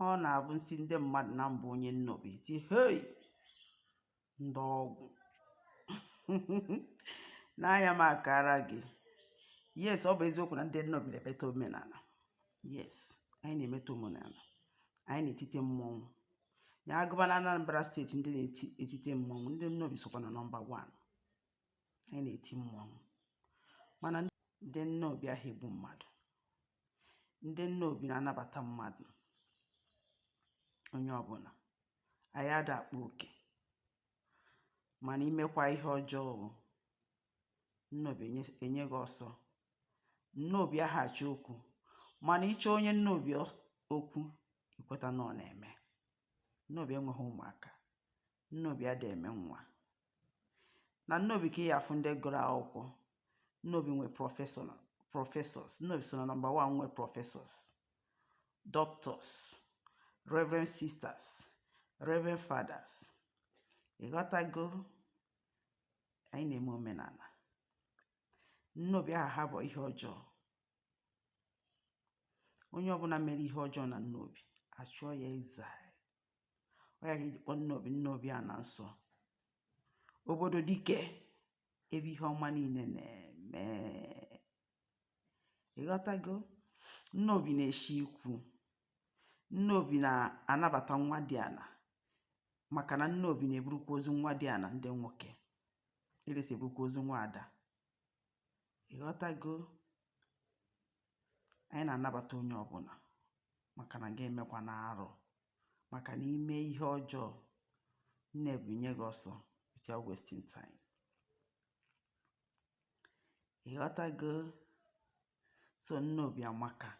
ọ na-abụ m sị ndị mmadụ na m bụ onye nnobi e tie hei ndị ọgwụ n'anya m akara gị yes ọ bụ eziokwu na ndị nnobi na-emeta omenala yes anyị na-emeta omenala anyị na-etite mmọnwụ ya agụba na Anambra steeti ndị na-etite mmọnwụ ndị nnobi sokwa na nọmba 1 anyị na-eti mmọnwụ mana ndị nnobi aha egbu mmadụ ndị nnobi na-anabata mmadụ onye ọbụla anyị ada akpa oke mana i mekwa ihe ọjọọ nnobi enye gị ọsọ nnobi aha achọ okwu mana ị chọọ onye nnobi okwu i kweta na ọ na-eme nnobi enweghị ụmụaka nnobi ada eme nwa na nnobi ka ị ya-afụ ndị gụrụ akwụkwọ nnobi nwe professors nnobi so na nọmba wan nwe professors doctors reverend sisters reverend fathers ịghọtago anyị na-eme omenala nnobi aha ahapụ ihe ọjọọ onye ọbụla mere ihe ọjọọ na nnobi achụọ ya exile ọ ya ka e ji kpọọ nnobi nnobi ana nsọ obodo dike ebe ihe ọma niile na-eme ịghọtago nnobi na-eshi ikwu nnobi na-anabata nwadiala maka na nnobi na-eburukwa ozu nwadiala ndị nwoke elesi eburukwa ozu nwa ada ịghọtago anyị na-anabata onye ọbụla maka na gị emekwana arụ maka na i mee ihe ọjọọ nnobi enye gị ọsọ without wasting time ịghọtago so nnobi amaka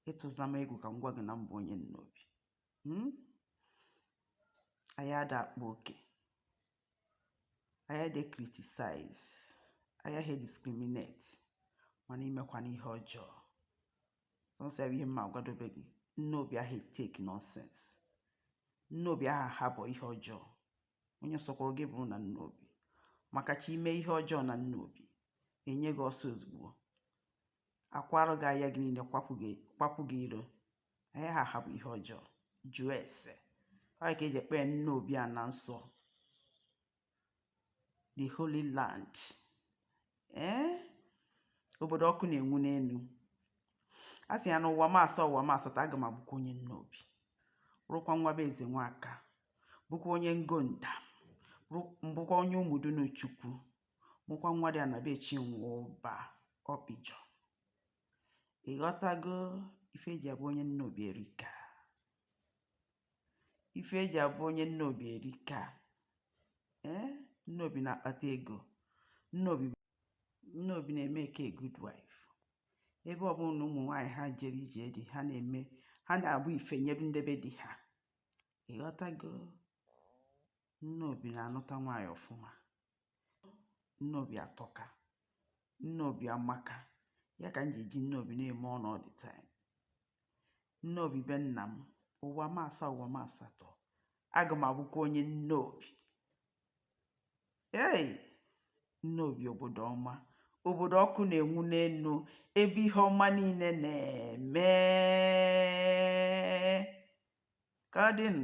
ị tụza m egwu ka m gwa gị na m bụ onye nnobi hmm? anyị ada akpa oke anyị ada criticize anyị aha discriminate mana i mekwana ihe ọjọọ sọọsọ ya bụ ihe m ma agwadobe gị nnobi aha etake nonsense nnobi aha ahapụ ihe ọjọọ onye sọkwara gị bụrụ na nnobi maka chi i mee ihe ọjọọ na nnobi enye gị ọsọ ozugbo a kwaara gị aya gị niile kwapụ gị iro anyị aha ahapụ ihe ọjọọ jụọ ese ọ ya ka e ji kpọọ nnobi ana nsọ the holy land ee eh? obodo ọkụ na-enwu n'elu a sị ya na ụwa m asaa ụwa m asatọ aga m abụkwa onye nnobi bụrụkwa nwa be ezenwaka bụkwa onye ngo ndam bụkwa onye ụmụdunu chukwu mụkwa nwadịana be chinwụba ọpịjọ ịghọtago ife eji abụ onye nnobi erika ife eji abụ onye nnobi erika ee eh? nnobi na-akpata ego nnobi nnobi na-emeke good wife ebe ọbụna ụmụ nwaanyị ha jere ije di ha na-eme ha na-abụ ife nyebe ndị be di ha ịghọtago nnobi na-anụta nwaanyị ọfụma nnobi atọka nnobi amaka ya ka m ji eji nnobi na-eme ọnụ all the time nnobi be nna m ụwa m asaa ụwa m asatọ aga m abụkwa onye nnobi ei nnobi obodo ọma obodo ọkụ na-enwu n'enu ebe ihe ọma niile na-eme ka ọ dịnụ